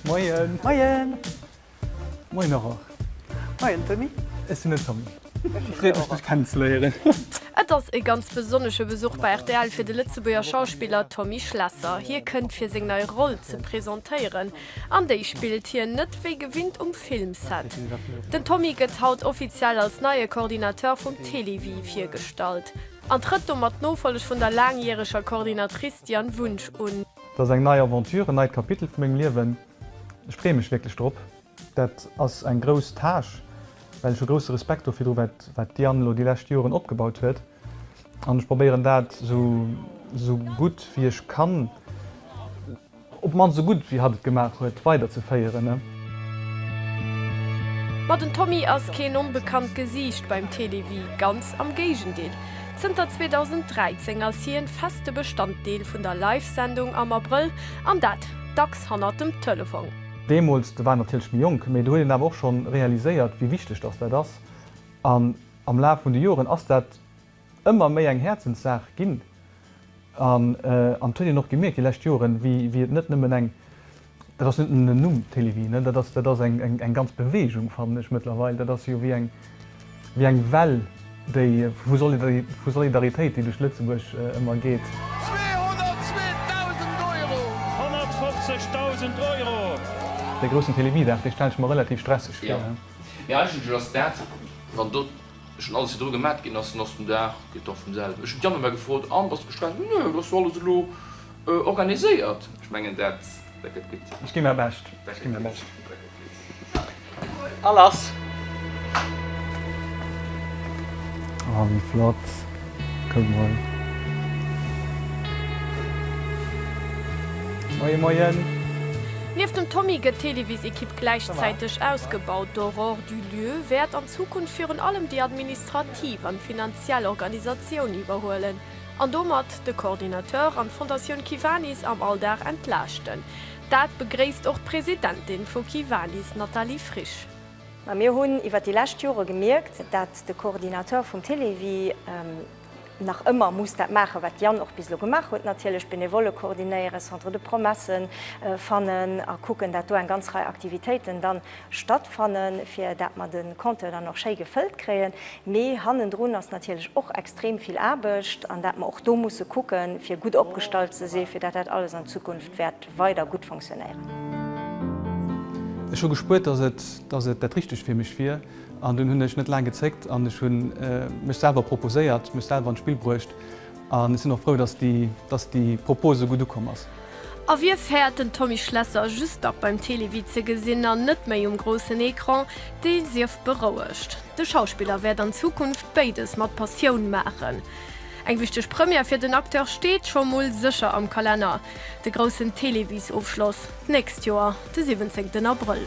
Moien. Moien. Moien och och. Moien Tommy. Ech sinn den Tommy. Freet mech dech kennen ze léieren. Et ass e ganz besonnesche Besuch bei rtl fir de Lëtzebuerger Schauspiller Tommy Schlesser. Hie kënnt fir seng nei Roll ze presentéieren. An déi spillt hien net wéi gewinnt um Filmset. Den Tommy gëtt haut offiziell als neie Coordinateur vum Télévie virgestallt. An trëtt domat d'Nofolleg vun der laangjäreger Coordinatrice Diane Wunsch un. Dat ass eng nei Aventure, en neit Kapitel vu mengem Liewen. Ech freeë mech wierklech drop. Dat ass eng grouss Tâche, well ech hu grousse Respekt dofir, wat d'Diane elo déi lescht Joren opgebaut huet. An ech probéieren dat esou gutt wéi ech kann. Op d'mannst sou gudd wéi hatt et gemaach huet weider ze féieren ne? Ma den Tommy ass keen onbekannt Gesiicht beim Télévie, ganz am Géigendeel. Zënter 2013 ass hien feste Bestanddeel vun der Live-Sendung am Abrëll, an dat dacks hannert dem Telefong. Deemools, de war natierlech méi jonk, mee do huet een awer och schonn realiséiert wéi wichteg dass dat ass, an am Laf vun de Joren ass dat. ëmmer méi eng Häerzenssaach ginn an an et huet een och gemierkt déi lescht Joren, wéi wéi et net nëmmen eng, dat ass net nëmmen en Numm, Télévie, ne, dat ass dat ass eng eng eng ganz Beweegung, fannen ech mëttlerweil, dat ass jo wéi eng wéi eng Well, déi vu Solidari vu Solidaritéit, déi duerch Lëtzebuerg ëmmer geet. 202.000 Euro! 150.000 Euro! Dee groussen Télévie-Dag, dee stelle ech mer relativ stresseg vir. Jo, mee eigentlech ass dat, wann do Ech hunn alles virdru gemat, ginn ass den Os den Dag, gëtt dach vum selwen. Ech hunn d'Jana emmer gefrot, an, bass de gespaant? Nö, et ass jo alles elo organiséiert. Ech mengen, dat gëtt gutt. Ech gi mäi Bescht, ech gi mäi Bescht. Dat gëtt gutt. A lass! Oh, wéi flott! Kuck mol. Moie moien! Nieft dem Tommy gëtt d'Televis-Ekipp gläichzäiteg ausgebaut. D'Aurore Dulieu wäert an. Zukunft virun allem déi administrativ an finanziell Organisatioun iwwerhuelen an domat de Coordinateur an d'Fondatioun Kiwanis am Alldag entlaaschten. Dat begréisst och d'Presidentin vu Kiwanis Nathalie Frisch. Mä mir hunn iwwer déi lescht Jore gemierkt, dat de Coordinateur vum Télévie, nach ëmmer muss dat maachen, wat Yann och bis elo gemaach huet, natierlech Benevolle koordinéieren, Centre de promesse fannen a kucken, dat do eng ganz Rei Aktivitéiten da stattfannen, fir dat mer de Compteur dann och schéi gefëllt kréien. Mee hannendrun ass natierlech och extrem vill Aarbecht an dat mer och do musse kucken, fir gutt opgestallt ze sinn, fir dat dat alles an Zukunft wäert weider gutt funktionéieren. Ech hu gespuert, dass et dat Richtegt fir mech wier. An dunn hunn ech net laang gezéckt an ech hu mech selwer proposéiert, mech selwer an d'Spill bruecht. An ech sinn och frou, dass déi, dass déi Propos esou gutt ukomm ass. A wie fäert den Tommy Schlesser just nach beim Télévie ze gesinn an net méi um groussen Ecran, dee sief berouegt. De Schauspiller wäert an Zukunft béides mat Passioun maachen. Eng wichteg Première fir den Acteur steet scho mol sécher am Kalenner, de groussen Téléviesofschloss. D'nächst Joer, de siwwenzéngten Abrëll.